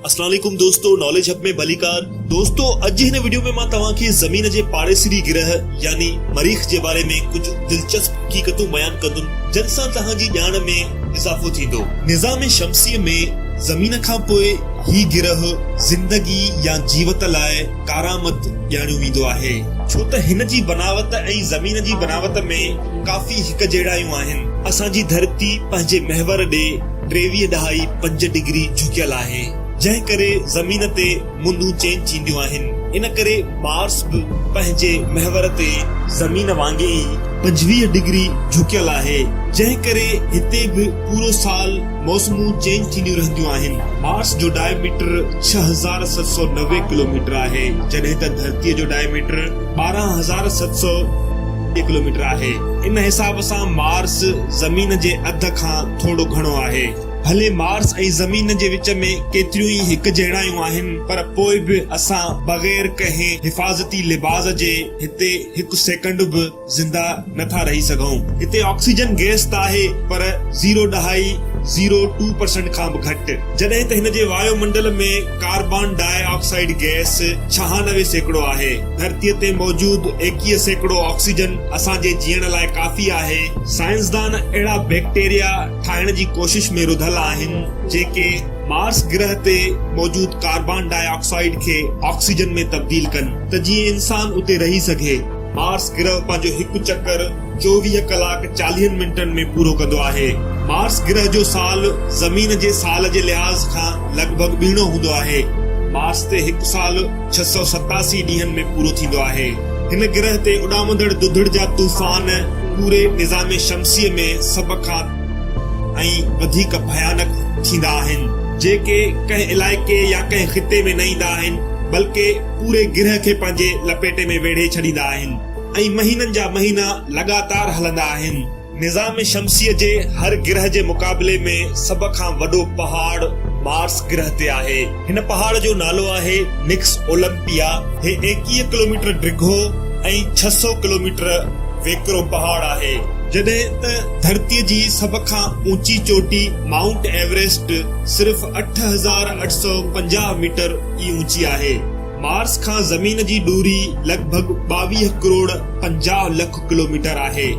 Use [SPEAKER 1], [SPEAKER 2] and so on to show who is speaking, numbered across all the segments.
[SPEAKER 1] اسلام عليڪم دوستو ناليج هب ۾ ڀليڪار دوستو اڄ هن وڊيو ۾ مان توهان کي زمين جي پاڙيسري گرهه يعني مريخ جي باري ۾ ڪجهه دلچسپ حقيقتون بيان ڪندم جن سان توهان جي ڄاڻ ۾ اضافو ٿيندو نظام شمسي ۾ زمين کان پوء هي گرهه زندگي يا جيوت لاء ڪارآمد ڄاڻيو ويندو آهي، ڇو ته هن جي بناوت ۽ زمين جي بناوت ۾ ڪافي هڪجهڙايون آهن. اسان جي ڌرتي پنهنجي محور ڏي ٽيويهه ڏهائي پنج ڊگري جهڪيل آهي، جنهن ڪري زمين تي موندون چينج ٿينديون آهن، ان ڪري مارس به پنهنجي محور تي زمين وانگي ئي پنجويهه ڊگري جهڪيل آهي، جنهن ڪري هتي به پورو سال موسمون چينج ٿينديون رهنديون آهن. مارس جو ڊائي ميٽر ڇهه هزار ست سؤ نوي ڪلوميٽر آهي، جڏهن ته ڌرتيء جو ڊائي ميٽر ٻارهن هزار ست سؤ ٽي ڪلوميٽر آهي. ان حساب سان مارس زمين جي اڌ کان ٿورو گهڻو آهي. ڀلي مارس ۽ زمين جي وچ ۾ ڪيتريون ئي هڪجهڙايون آهن، پر پوء به اسان بغير ڪنهن حفاظتي لباس جي هتي هڪ سيڪنڊ به زنده نه ٿا رهي سگهون. هتي آڪسيجن گئس ته آهي پر زيرو ڏهائي، Zero Two Percent، کان به گهٽ، جڏهن ته هن جي وايو منڊل ۾ ڪاربان ڊاء آڪسائيڊ گئس ڇهانوي سيڪڙو آهي. ڌرتيء تي موجود ايڪيهه سيڪڙو آڪسيجن اسان جي جيئڻ لاء ڪافي آهي. سائنسدان اهڙا بيڪٽيريا ٺاهڻ جي ڪوشش ۾ رڌل آهن، جيڪي مارس گرهه تي موجود ڪاربان ڊاء آڪسائيڊ کي آڪسيجن ۾ تبديل ڪن ته جيئن انسان اتي رهي سگهي. مارس گرهه پنهنجو هڪ چڪر چوويهه ڪلاڪ چاليهن منٽن ۾ پورو ڪندو آهي. مارس گرهه جو سال زمين جي سال جي لحاظ کان لڳ ڀڳ ٻيڻو هوندو آهي. مارس تي هڪ سال ڇهه سؤ ستاسي ڏينهن ۾ پورو ٿيندو آهي. هن گرهه تي اڏامندڙ دڌڙ جا طوفان پوري نظام شمسيء ۾ سڀ کان ۽ وڌيڪ ڀيانڪ ٿيندا آهن، جيڪي ڪنهن علائقي يا ڪنهن خطي ۾ نه ايندا آهن، بلڪه پوري گرهه کي پنهنجي لپيٽي ۾ ويڙهي ڇڏيندا آهن ۽ مهينن جا مهينا لڳاتار هلندا آهن. نظام شمسيء جي هر گرهه جي مقابلي ۾ سڀ کان وڏو پهاڙ مارس گرهه تي آهي. هن پهاڙ جو نالو آهي نڪس اولمپيا. هي ايڪيهه ڪلوميٽر ڊگهو ۽ ڇهه سؤ ڪلوميٽر ويڪرو پهاڙ آهي. جڏهن ته ڌرتيء جي سڀ کان اوچي چوٽي مائونٽ ايوريسٽ صرف اٺ هزار اٺ سؤ پنجاهه ميٽر ئي اوچي آهي. مارس کان زمين جي ڏوري لڳ ڀڳ ٻاويهه ڪروڙ پنجاهه لک ڪلوميٽر آهي.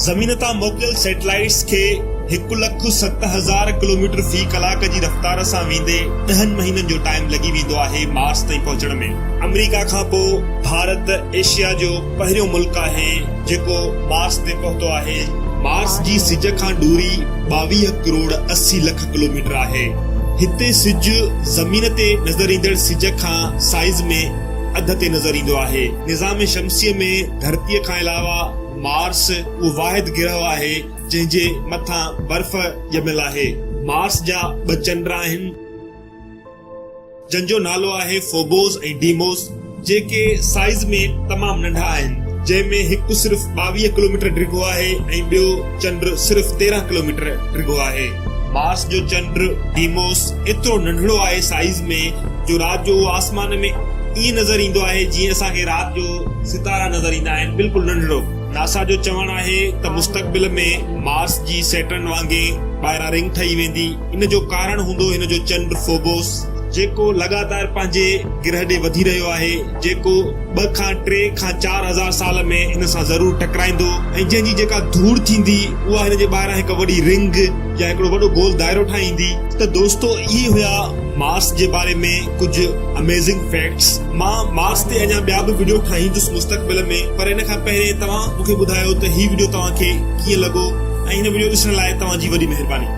[SPEAKER 1] زمين تان موڪليل سيٽلائيٽس کي هڪ لک ست هزار ڪلوميٽر في ڪلاڪ جي رفتار سان ويندي ڏهن مهينن جو ٽائيم لڳي ويندو آهي مارس تائين پهچڻ ۾. آمريڪا کان پوء ڀارت ايشيا جو پهريون ملڪ آهي جيڪو مارس تي پهتو آهي. مارس جي سج کان ڏوري ٻاويهه ڪروڙ اسي لک ڪلوميٽر آهي. هتي سج زمين تي نظر ايندڙ سج کان سائيز ۾ اڌ تي نظر ايندو آهي. نظام شمسي ۾ ڌرتي کان علاوه مارس اهو واحد گرهه آهي جنهن جي مٿان برف ڄميل آهي. مارس جا ٻه چنڊ آهن. جن جو نالو آهي فوبوس ۽ ڊيموس، جيڪي سائيز ۾ تمام ننڍا آهن، جنهن ۾ هڪ صرف ٻاويهه ڪلوميٽر ڊگهو آهي ۽ ٻيو چنڊ صرف تيرهن ڪلوميٽر ڊگهو آهي. مارس جو چنڊ ڊيموس ايترو ننڍڙو آهي سائيز ۾ جو رات جو اهو آسمان ۾ ائين نظر ايندو آهي جيئن اسان کي رات جو ستارا نظر ايندا آهن، بلڪل ننڍڙو. ناسا جو چوڻ آهي ته مستقبل ۾ مارس جي سيٽرن وانگي ٻاهران رنگ ٺهي ويندي. ان جو ڪارڻ هوندو هن جو چنڊ فوبوس، جيڪو لڳاتار پنهنجي گرهه ڏي وڌي رهيو آهي، جيڪو ٻه کان ٽي کان چار هزار سال ۾ ان سان ضرور ٽڪرائيندو ۽ جنهن جي جيڪا ڌوڙ ٿيندي، اها هن جي ٻاهران هڪ وڏي رنگ يا هڪڙو وڏو گول دائرو ٺاهيندي. ته دوستو اهي هيا مارس جي باري ۾ ڪجهه Amazing Facts. مان مارس تي اڃا ٻيا به وڊيو ٺاهيندس مستقبل ۾ پر ان کان پهرين توهان مون کي ٻڌايو ته هي وڊيو توهان کي ڪيئن لڳو ۽ هن وڊيو ڏسڻ لاء توهان جي وڏي مهرباني.